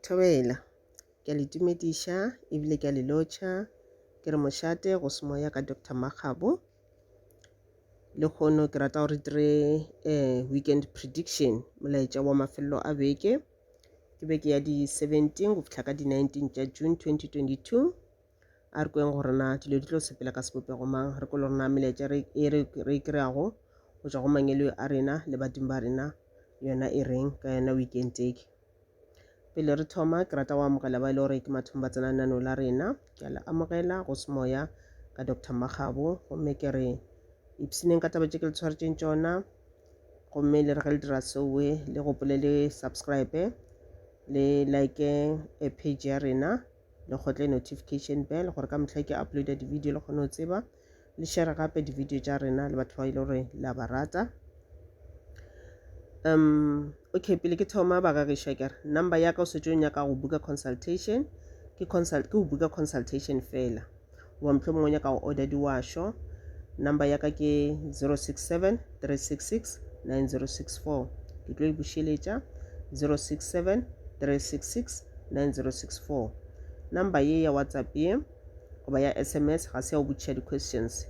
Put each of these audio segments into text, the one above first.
Thobela. Ke a le tumediša ebile ke a le lotšha. Ke re mošate go semoya ka Doctor Makgabo. Lekgono ke rata gore dire eh weekend prediction, molaetša wa mafelelo a beke. Ke beke ya di seventeen go fihla ka di nineteen tša June twenty twenty two. A re kweng gore na dilo di tlo sepela ka sebopego mang, re kwe le gore na melaetša e re e kry-ago go tšwa go mangeloi a rena le badimo ba rena yona e reng ka yona weekend e. Pele re thoma ke rata go amogela ba e le gore ke mathomo ba tsena lenaneo la rena. Ke a le amogela go semoya ka Doctor Makgabo gomme ke re ipshineng ka taba tše ke le tshwaretšeng tšona gomme le re ge le dira seoe le gopole le subscribe le like e page ya rena. le kgotle notification bell gore ka motlha ke uploada di-video le kgone go tseba le share gape di-video tša rena le batho ba ile e gore la ba rata um okay pele ke thoma bagagišwa kere number ya ka o setse o nyaka go buka consultation ke consult ke go buka consultation fela goba mohlomongwe nyaka go order diwašo number ya ka ke 067 366 9064 ke tlo e bušeletša 067 366 9064 number ye ya whatsapp ye goba ya sms ga se ya go botšiša di-questions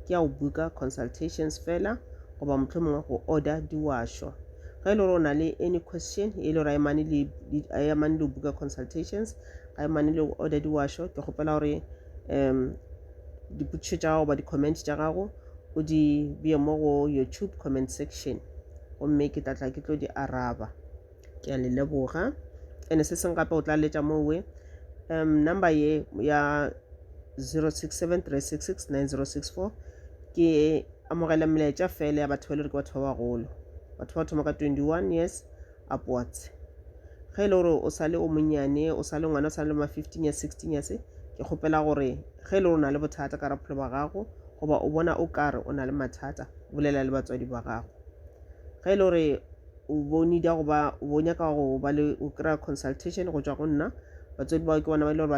ke ya go buka consultations fela goba motlho mongwe go order diwašo ge e le gore o na le any question e le gore a emane le buka consultations ga mane le order diwasho ke kgopela gore um dipotšišo tša gago ba di-comment tša gago o di beye mo go youtube comment section gomme ke tlatla ke tlo di araba ke a le leboga ene se seng gape o tla letša mowe um number ye ya 0673669064 ke amogela melaetša fela ya batho ba le gore ke batho ba bagolo batho ba thoma ka 21 years upwards. Ge e le gore o sa le o monnyane, o sa le ngwana, o sa le ma fifteen years, sixteen years, ke kgopela gore ge e le gore o na le bothata ka bophelo ba gago goba o bona o kare o na le mathata, bolela le batswadi ba gago. Ge e le gore o bo need-a go ba, o bo nyaka go ba le, go kry-a consultation go tšwa go nna, batswadi bao ke bona ba e le gore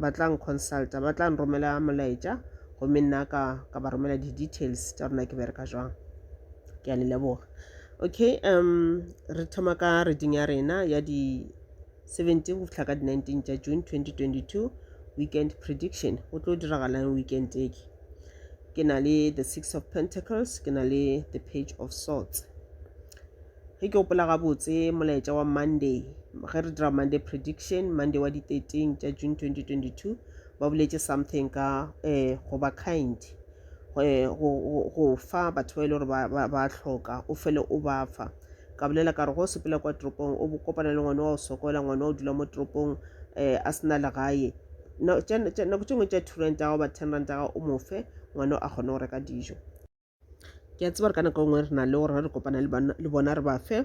ba tla n-consulta, ba tla nromela molaetša gomme nna ka ba romela di-details tša gore na ke bereka jwang. Ke a le leboga. Okay um re thoma ka reading ya rena ya di 17 go fihla ka di 19 tša June 2022 weekend prediction go tlo diragalang weekend e ke ke na le the six of pentacles ke na le the page of swords ge ke gopola gabotse molaetša wa monday ge re dira monday prediction monday wa di 13 tša June 2022 ba boletše something ka eh go ba kind go fa batho ba e le gore ba hloka o fele o ba fa ka bolela ka re go sepela kwa toropong o kopana le ngwana wa o sokola ngwana o dula mo toropong um a sena legae nako tše ngwe tša two ranta gago ba ten ranta gago o mofe ngwana a kgone go reka dijo ke a tseba re ka nako e nngwe re na le gore re kopana le bona re ba fe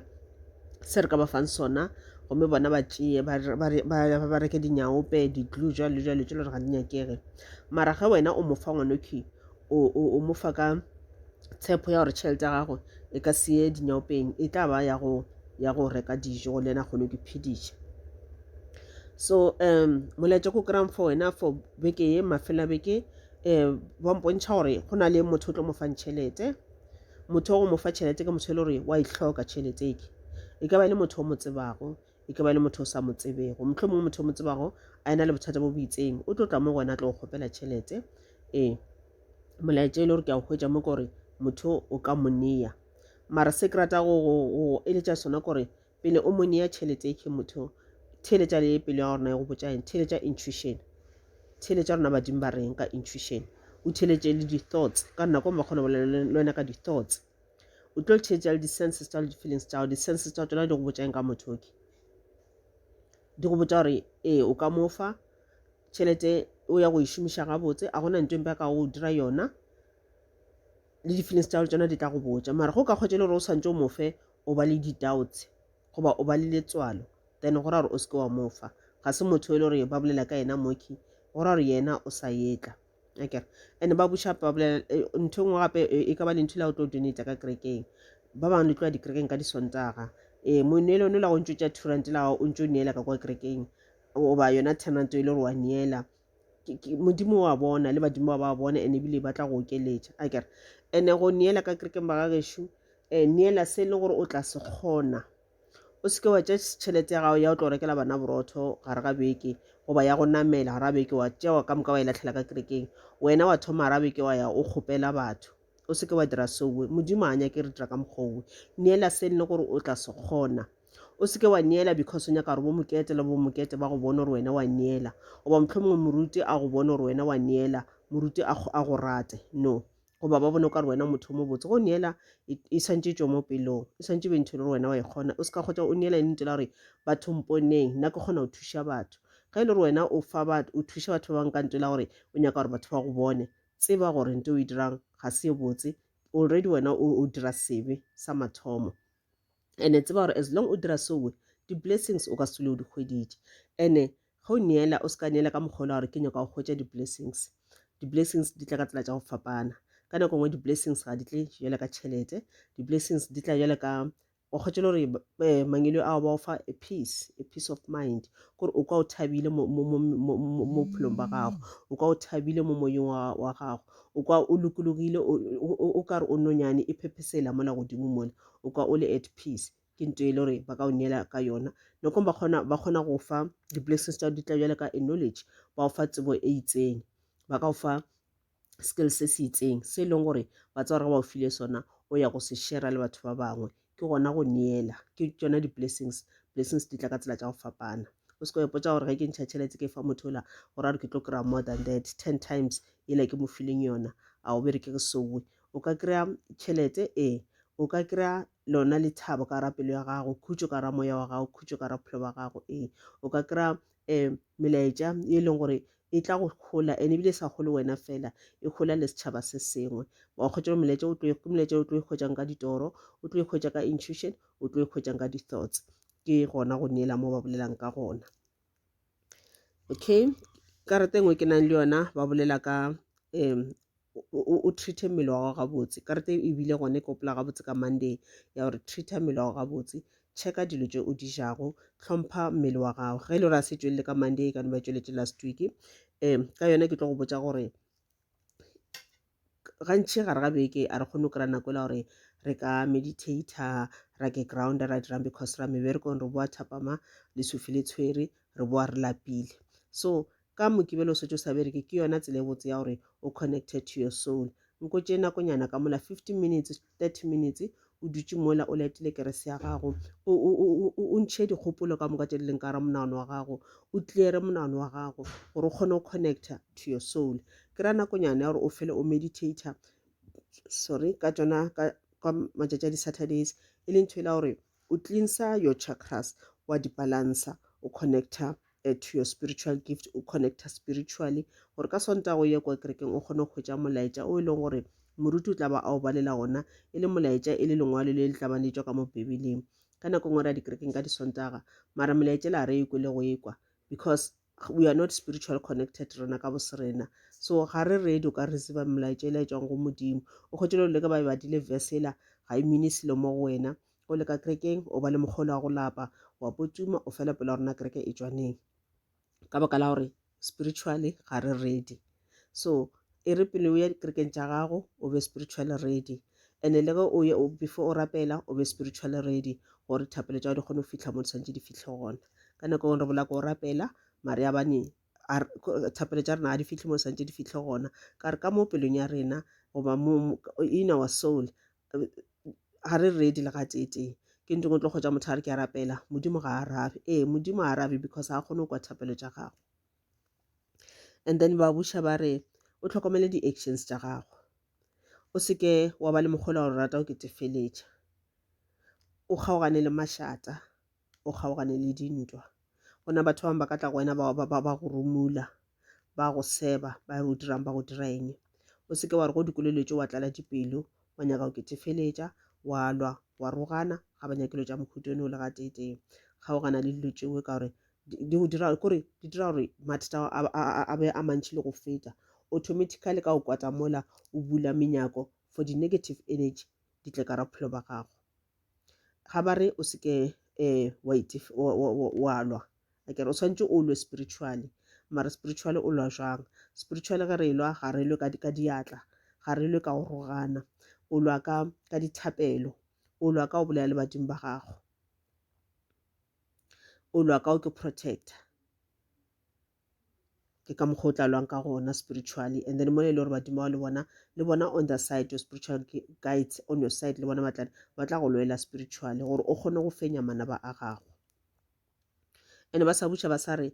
se re ka ba fang sona gomme bona ba tšee ba reke dinyaope di-glue jalo jalo tse le gore ga di nyakege mara ge wena o mofa ngwanoki o mofa ka tshepo ya gore tšhelete ya gago e ka seye dinyaopeng e tla ba ya go ya go reka dijo go le ena kgone ke phediša so um molaetša ko kry-ang for wena for beke ye mafela beke um ba mpontšha gore go na le motho o tlo mo fang tšhelete motho wa go mo fa tšhelete ke motho e le gore wa e tlhoka tšhelete eke e ka ba e le motho o mo tsebago e ke ba e le motho o sa mo tsebego motlho mongwe motho o mo tsebago a ena le bothata bo bo itseng o tlo tla mo gona a tlo go kgopela tšhelete ee molaetša e le gore ke a go hwetša mo kore motho o ka mo neya mara se ke rata go eletša sona kore pele o mo neya tšhelete e ke motho theletša le pelo ya gorena ya go botša eng theletša intuition theletša rona badimo ba reng ka intuition o theletše le di-thoughts ka nako mo kgona bolela le wena ka di-thoughts o tlo theetša le di-senses tša le di-feelings tša gago di-senses tša tsona di go botšang ka motho oke di go botša gore ee o ka mo fa tšhelete o ya go e šomiša gabotse a gona ntho empe ka go dira yona le di-feelings tša tsona di tla go botša mara go ka kgwetša le gore o tshwanetse o mofe o ba le di-doubts goba o ba le letswalo then go ra gore o seke wa mofa ga se motho e le gore ba bolela ka yena moki go ra gore yena o sa etla okay and ba buša ba bolela eh, ntho e nngwe gape eh, e ka ba lentho la o tlo donate ka kerekeng ba bangwe le tloa dikerekeng ka disontaga ee eh, moneele one la go ntso tša two rand la o ntso o neela ka kwa kerekeng goba yona ten rand e le gore wa neela modimo wa bona le badimo ba ba bona ene ebile ba tla go okeletša a kere ene go neela ka kerekeng ba ga gešo um neela se e le gore o tla se kgona o seke wa tša tšhelete ya gago ya o tlo rekela bana borotho gare ga beke goba ya go namela gare ga beke wa tšewa ka moka wa e latlhela ka kerekeng wena wa thoma gare ga beke wa ya o kgopela batho o seke wa dira seowe modimo a nyake re dira ka mokgowe neela se nne gore o tla se kgona o seke wa neela because o nyaka gore bo mokete le bo mokete ba go bone gore wena wa neela goba motlho mongwe moruti a go bone gore wena wa neela moruti a go rate no goba ba bone o ka re wena motho o mobotse go neela e, e swantše tšo mo pelong e swantše be ntho e le gore wena wa e kgona o se ka kgotsa o neela e ntse la gore batho mponeng nna ke kgona go thuša batho ge e le gore wena o fa batho o thuša batho ba bangwe ka nto la gore o nyaka gore batho ba go bone tseba gore nto o e dirang ga se e botse already wena o, o dira sebe sa mathomo ene tseba gore as long o dira sowe di-blessings o ka se o di hweditše ene ge o neela o se ka neela ka mokgolo wa gore ke nyaka go hwetša di-blessings di-blessings di tla ka tsela tša go fapana ka nako nngwe di-blessings ga di tle jale ka tšhelete di-blessings di tla jale ka o kgwetše le gore eh, mangelo ao ba o fa a peace a peace of mind kore o ka o thabile mo bophelong ba gago o ka o thabile mo moyeng wa gago o ka o lokologile o kare o nonyane e phephesela mola godimo mole o kwa o le at peace ke nto e le gore ba ka o neela ka yona nokong ba kgona ba kgona go fa di-blessings tsa di tla bjale ka a knowledge ba o fa tsebo e itseng ba ka o fa skill se se itseng se e leng gore ba tsa gore ba o file sona o ya go se shera le batho ba bangwe ke gona go neela ke tsona di-blessings blessings di tla ka tsela tša go fapana o seko epotsa gore ge ke ntšha tšhelete ke fa motho ola gore a re ke tlo kry-a more than that ten times ela ke mo fileng yona a o bere ke re sowe O ka kry-a tšhelete, ee. O ka kry-a lona lethabo ka gara pelo ya gago, khutšo ka gara moya wa gago, khutšo ka gara bophelo ba gago, ee. O ka kry-a um melaetša e leng gore e tla go gola and ebile e sa gole wena fela e gola le setšhaba se sengwe wa kgwetša molaetša o ke molaetša o tlo ikgwetšang ka ditoro o tlo ikgwetša ka intuition o tlo ikgwetšang ka di-thoughts ke gona go neela mo ba bolelang ka gona okay karata engwe ke nang le yona ba bolela ka um o treat mmele wa gago gabotse karata e bile gone ke opela gabotse ka monday ya gore treat mmele wa gago gabotse checka dilo tše o di jago tlhompha mmele wa gago ge e le gore a se tšwelele ka monday ka no ba tšweletše last week um ka yona ke tlo go botsa gore gantši gare ga beke a re kgone go kry-a nako e la gore re ka meditator ra ke ground ra dirang because ra meberekong re boa thapama le sufi le tshwere re boa re lapile so ka mokibelo o setse o sa bereke ke yona tsela e botse ya gore o connected to your soul nko tše nakonyana ka mola 15 minutes 30 minutes o dutše mola o laetile kerese ya gago o, o, o, o, o ntšhe dikgopolo ka moka tše di leng ka ra monagano wa gago o cleare monagano wa gago gore o kgone go connecta to your soul ke ra nakonyana ya gore o fele o meditator sorry ka tsona ka, ka matšatši a di-saturdays e leng ntho e la gore O cleansa your chakras, wa di balansa, o connecta eh, to your spiritual gift, o connecta spiritually, gore ka Sontaga o ye kwa kerekeng o kgone go hwetša molaetša o e leng gore moruti o tla ba a o balela ona e le molaetša e le lengwalo le le tla bane tšwa ka mo bibeleng ka nako e nngwe ra dikerekeng ka disontaga mara molaetšela a re ekwe le go ekwa because we are not spiritual connected rena ka boserena so ga re ready o ka receive melaetša e laetšwang go modimo o kgwetše le leka ba e badile verse ela ga e mine selo mo go wena o leka kerekeng o ba le mokgolo wa go lapa wa potuma o fela pela rona kereke e tšwaneng ka baka la gore spiritually ga re ready so e re pele o ya dikerekeng tša gago o be spiritually ready and le ge o before o rapela o be spiritually ready gore thapelo tša di kgone go fitlha mo di santse di fitlhe gona ka nako engwe re bola ko o rapela mare ya bane thapelo tša rena ga di fitlhe mo di santse di fitlhe gona ka re ka mo pelong ya rena goba in our soul ga re ready le ga tee ke ntong o tlo kgotsa motho a re ke a rapela modimo ga a arabe ee modimo a arabe because ga a kgone go kwa thapelo tša gago and then ba buša ba re o tlhokomele di-actions tša gago o seke wa ba le mokgwela gore rata o ketefeletša o kgaogane le mašata o kgaogane le dintwa gona batho bangwe ba ka tla go wena ba go rumula ba go seba ba re o dirang ba go dira eng o seke wa re go dikolelo tse wa tlala dipelo wa nyaka go ketefeletša wa lwa wa rogana ga ba nyakelo tša mohuto ne o le ga tetee kgaogana le dilo tšeo ka gore di go dira kore di dira gore mathata a be a mantšhi le go feta automatically ka go kwata mola o bula menyako for di negative energy di tle ka ra bophelo ba gago ga ba re o seke um wa lwa akere o tshwanetse o lwe spiritually mara spiritually o lwa jang spiritually ge re lwa ga re lwe ka diatla ga re lwe ka go rogana o lwa ka dithapelo o lwa ka go bolela le badimo ba gago o lwa ka o ke protector ke ka mokgwa o tla lwang ka gona spiritually and then mone e le gore badimo bao le bona le bona on the side your spiritual guides on your side le bona batlane ba tla go lwela spiritually gore o kgone go fenya manaba a gago and ba sa buša ba sa re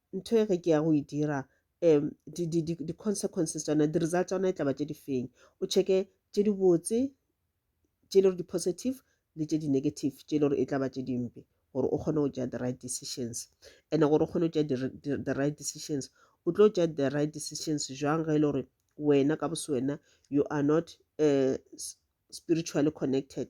ntho e ge ke ya go e dira um di-consequences tsona di-result tsa yona e tlaba tše di feng o checke tše di botse tše e le gore di-positive le tše di-negative tše e le gore e tlaba tše dimpe gore o kgone go tšea the right decisions and gore o kgone go tšea the right decisions o tlo tšea the right decisions jwang ge e le gore wena ka boswena you are not uh, spiritually connected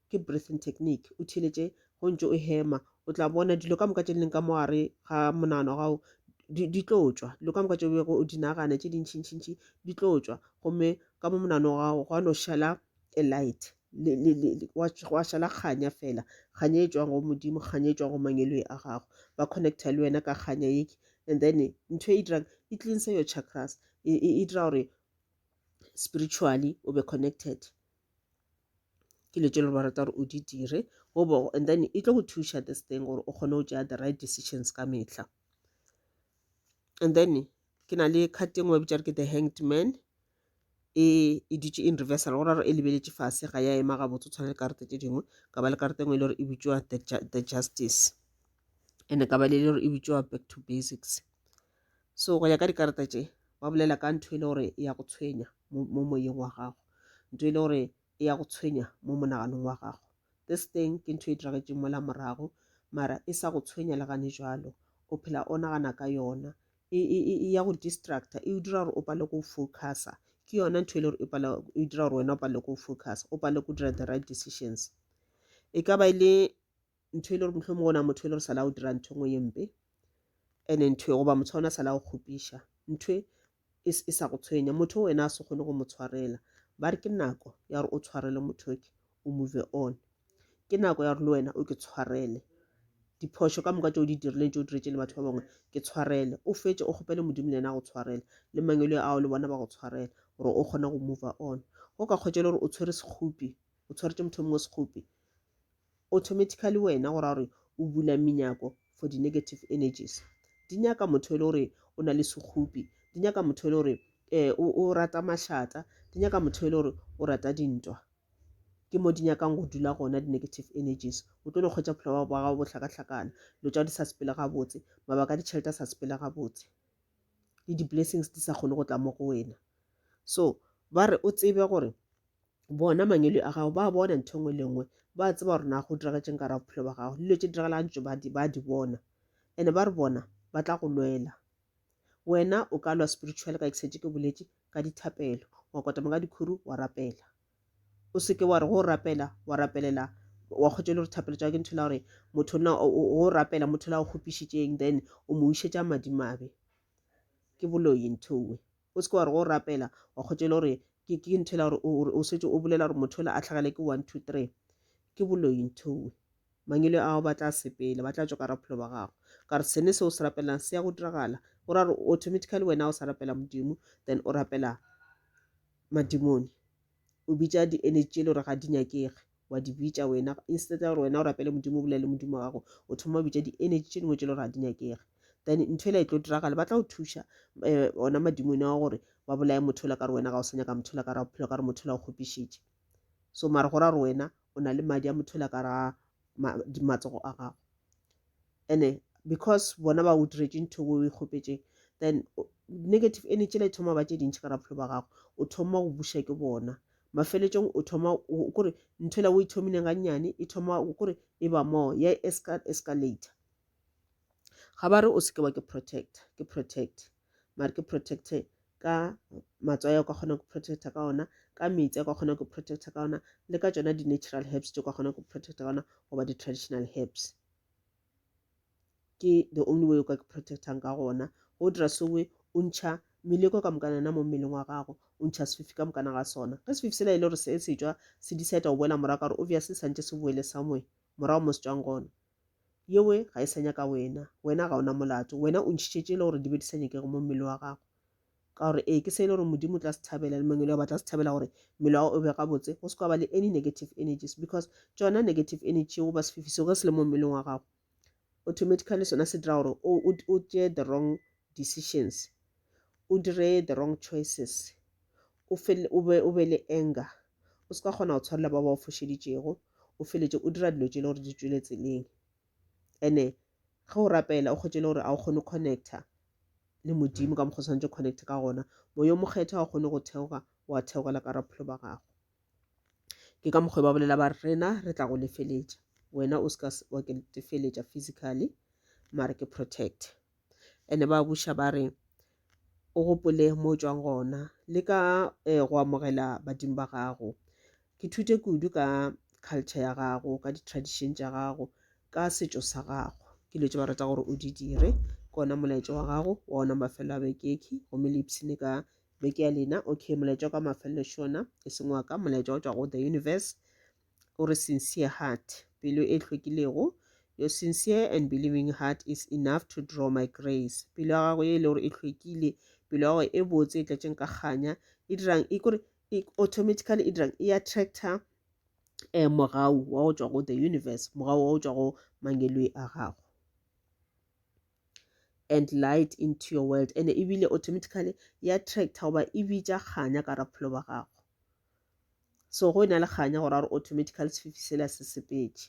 ke breathing technique o theeletše go ntse o hema o tla bona dilo ka moka tše leng ka mogare ga monano gago di tlo tswa dilo ka moka tše bego o di nagana tše dintšhintšhintšhi di tlo tswa gomme ka mo monano gago gwa no šala a light wa šala kganya fela kganya e tswang go modimo kganya e tswang go mangeloi a gago ba connecta le wena ka kganya eke and then ntho e dirang e cleanse your chakras e dira gore spiritually o be connected ke le tšelo ba rata gore o di dire gobo and then e tlo go thuša this thing gore o kgone go tšea the right decisions ka mehla and then ke na le card e nngwe e bitšare ke the hanged man e e dutše in reversal go raro e lebeletše fase ga ya ema gabotse o tshwana le karete tše dingwe ka ba le karete e nngwe e le gore e bitšwa the justice and-e ka ba le le gore e bitšwa back to basics So go ya ka dikarata tše ba bolela ka ntho e le gore e ya go tshwenya mo moyeng wa gago, ntho e le gore e ya go tshwenya mo monaganong wa gago. This thing ke ntho e diragetšeng mola morago mara e sa go tshwenya le gane jalo o phela o nagana ka yona e, e, e, e ya go distracta e o dira gore o pale go focusa ke yona ntho e le gore e pala e dira gore wena o pale go focusa o pale go dira the right decisions e ka ba e le ntho e le gore mohlomong gona motho e le gore sala o dira ntho engwe ye mpe ene ntho e goba motho ona sala o kgopiša ntho e e sa go tshwenya motho wena a se kgone go mo tshwarela ba re ke nako ya gore o tshwarele motho ke o move on ke nako ya gore le wena o ke tshwarele diphošo ka moka tse o di dirileng tse o diretse le batho ba bangwe ke tshwarele o fetse o kgopele modimo le ena go tshwarela le mangelo ao le bona ba go tshwarela gore o kgone go move on go ka kgwetsa le gore o tshwere sekgopi o tshwaretse motho mongwe sekgopi automatically wena go ra gore o bula menyako for di negative energies di nyaka motho e le gore o na le sekgopi di nyaka motho e le gore um o rata mašata di nyaka motho e le gore o rata dintwa ke mo di nyakang go dula gona di-negative energies o tlo no kgwetsa bophelo ba gago bohlakahlakana dilo tša di sa sepele gabotse mabaka a ditšhelete a sa sepele gabotse le di-blessings di sa kgone go tla mo go wena so ba re o tsebe gore bona mangwele a gago ba bona ntho nngwe le nngwe ba tseba gore na go diragetseng ka ra bophelo ba gago dilo tse diragalang tso ba di bona ene ba re bona ba tla go lwela wena o ka lwa spiritual ka exete ke boletse ka dithapelo wa kotama ka dikhuru wa rapela o seke wa re go rapela wa rapelela wa kgotse le gore thapelo tsa ke ntho la gore motho na o rapela motho la o kgopišitšeng then o mo wišetša madimabe ke boloyi nthowe o se ke wa re go rapela wa kgotšele gore ke ke ntho ela gore o setse o bolela gore motho ola a tlhagele ke one two three ke boloi nthoe mangele ao ba tla sepele ba tla tswa ka raphelo ba gago ka re sene se o se rapelelang se ya go diragala o ra gore automatically wena o sa rapela modimo then o rapela madimone o bitša di-energy tšele gore ga di nyakege wa di bitša wena instead ya gore wena o rapele modimo o bolele modimo wa gago o thoma o bitša di-energy tše dingwe tše le gore ga di nyakege then ntho e le e tlo diragale ba tla go thuša eh, ona madimone wa gore ba bolaye motho o le ka re wena ga o sa nyaka motho o le ka re bophelo ka re motho o le o kgopišitše so mare go ra gore wena o na le madi a mothela ka ra matsogo a gago ene because bona ba o diretse ntho o e kgopetseng then negative energy le thoma ba tše dintšhi ka raphelo ba gago o thoma go buša ke bona mafeletsong o thoma kore ntho la o ithomileng ga nnyane e thoma kore e ba moo ya escalator ga ba re o seke wa ke protect ke protect mare ke protecte ka matswai a kwa kgona ku protecta ka ona ka metsi a kwa kgona ku protecta ka ona le ka tsona di-natural herbs tse kwa kgona ku protecta ka ona goba di-traditional herbs ke the only way o ka ke protectang ka gona go dira sowe o ntšha meleko ka mokana na mo mmeleng wa gago o ntšha sefifi ka mokana ga sona ge sefifi sela e le gore se setswa se decide go boela morago ka gore obviously santse se boele somewhere morago mo se tswang gona Yewe ga e sa nyaka wena. Wena ga o na molato. Wena o ntšhitše tše e le gore di be di sa nyakege mo mmele wa gago. Ka gore ee, ke se e le gore Modimo o tla se thabela le mangwele wa ba tla se thabela gore mmele wa gago o be gabotse, go se kwa ba le any negative energies because tšona negative energy yeo ba sefifi seo ge se le mo mmeleng wa gago automatically sona se dira gore o, o, o tšee the wrong decisions, o dire the wrong choices, o fele o be o be le anger o se ka kgona go tshwarela ba ba o fošeditšego o feletše o dira dilo tše le gore di tšwele tseleng ene ge o rapela o kgwetše le gore a o kgone connecta le modimo ka mokgwa tshwanetse connect ka gona moya o mokgetha ga o kgone go theoga wa theogela ka raphelo ba gago ke ka mokgwa ba bolela ba rena re tla go lefeletša wena o se ka wa ke tefeletša physically mare ke protect ene ba buša ba re o gopole mo o tšwang gona le ka um go amogela badimo ba gago ke thute kudu ka culture ya gago ka di-tradition tša gago ka setšo sa gago ke dilo tše ba rata gore o di dire ke ona molaetša wa gago wa ona mafelo a bekeki gomme le ipshine ka beke ya lena okay molaetša wa ka mafelelo šona e seng wa ka molaetša o tšwa go the universe o re sincere heart pelo e hlwekilego your sincere and believing heart is enough to draw my grace pelo ya gago e le gore e hlwekile pelo ya gago e botse e tlatšeng ka kganya e dirang e kore e automatically e dirang e attractor um eh, mogau wa go tšwa go the universe mogau wa go tšwa go mangeloi a gago and light into your world and ebile automatically e attractor goba e bitša kganya ka rapholo ba gago so go e na le kganya gore a re automatical sefifi sela se sepetše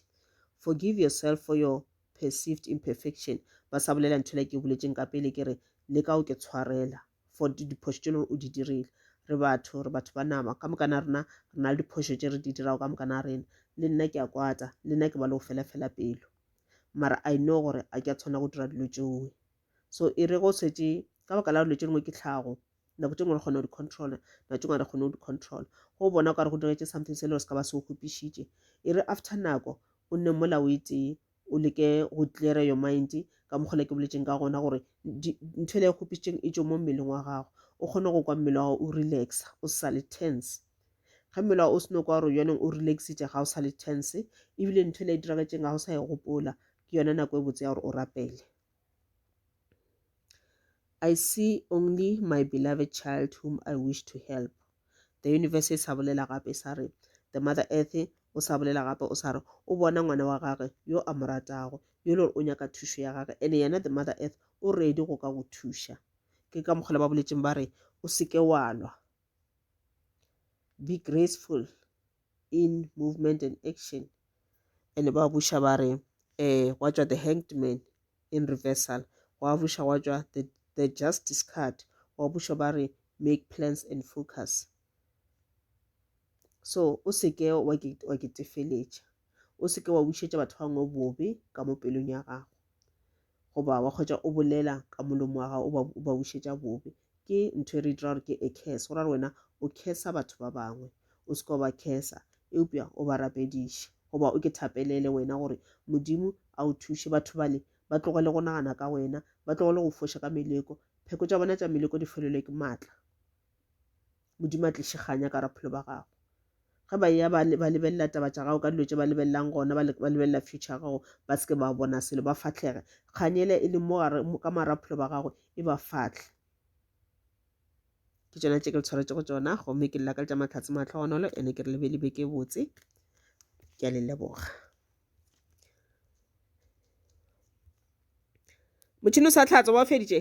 forgive yourself for your perceived imperfection ba sa bolela ntho le ke boletseng ka pele ke re le ka o ke tshwarela for diphošo tše leng o di dirile re batho re batho ba nama ka mokana rena re na le diphošo tše re di dirago ka mokana rena le nna ke a kwata le nna ke ba le go fela fela pelo mara i know gore a ke a tshwana go dira dilo tšeoe so e re go setse ka baka la dilo tše dingwe ke tlhago nako tše ngwe re kgona go di-controla nako tše ngwe re kgone go di-controla go bona o ka re go diretse something se le gore se ka ba se o kgopišitše e re after nako o nne mola o e tee o leke go cleara your mind ka mokgola ke boletseng ka gona gore ntho e le e kgopišitseng e tšo mo mmeleng wa gago o kgone go kwa mmele wa gago o relaxa o sa le tense ge mmele wa o seno kwa gore yoneng o relaxitše ga o sa le tense ebile ntho e le e diragetseng ga o sa e gopola ke yona nako e botse ya gore o rapele I see only my beloved child whom I wish to help. The universe e sa bolela gape e sa re, the mother earth o sa bolela gape o sa re, o bona ngwana wa gage yo a mo ratago, yo le gore o nyaka thušo ya gage, ene yena the mother earth o ready go ka go thuša. Ke ka mokgwa le ba boletšeng ba re, o seke wa lwa. Be graceful, in movement and action and ba buša ba re um gwa tšwa the hanged man in reversal gwa buša gwa tšwa the, the justice card gwa buša ba re make plans and focus so o seke wa ketefeletša o seke wa bušetša batho ba bangwe bobe ka mo pelong ya gago goba wa kgwetša o bolela ka molomo wa gago o ba, o ba bušetša bobe ke ntho e re dira gore ke a curse go ra gore wena o cursa batho ba bangwe o se ka ba cursa eupša o ba rapediše goba o ke thapelele wena gore modimo a o thuše batho bale ba tlogele go nagana ka wena ba tlogele go foša ka meleko pheko tša bona tša meleko di felelwe ke maatla modimo a tliše kganya ka raphelo ba gago ge ba ya ba lebelela taba tša gago ka dilo tše ba lebelelang gona ba lebelela future gago ba seke ba bona selo ba fatlhege kganyele e le mo ka maraphelo ba gago e ba fatlhe ke tšona tše ke le tshwaretse go tsona gomme ke lelaka le tša matlhatse matlhogonolo ene ke re lebe lebe ke botse ke a le leboga motšhini o sa tlhatsa wa feditše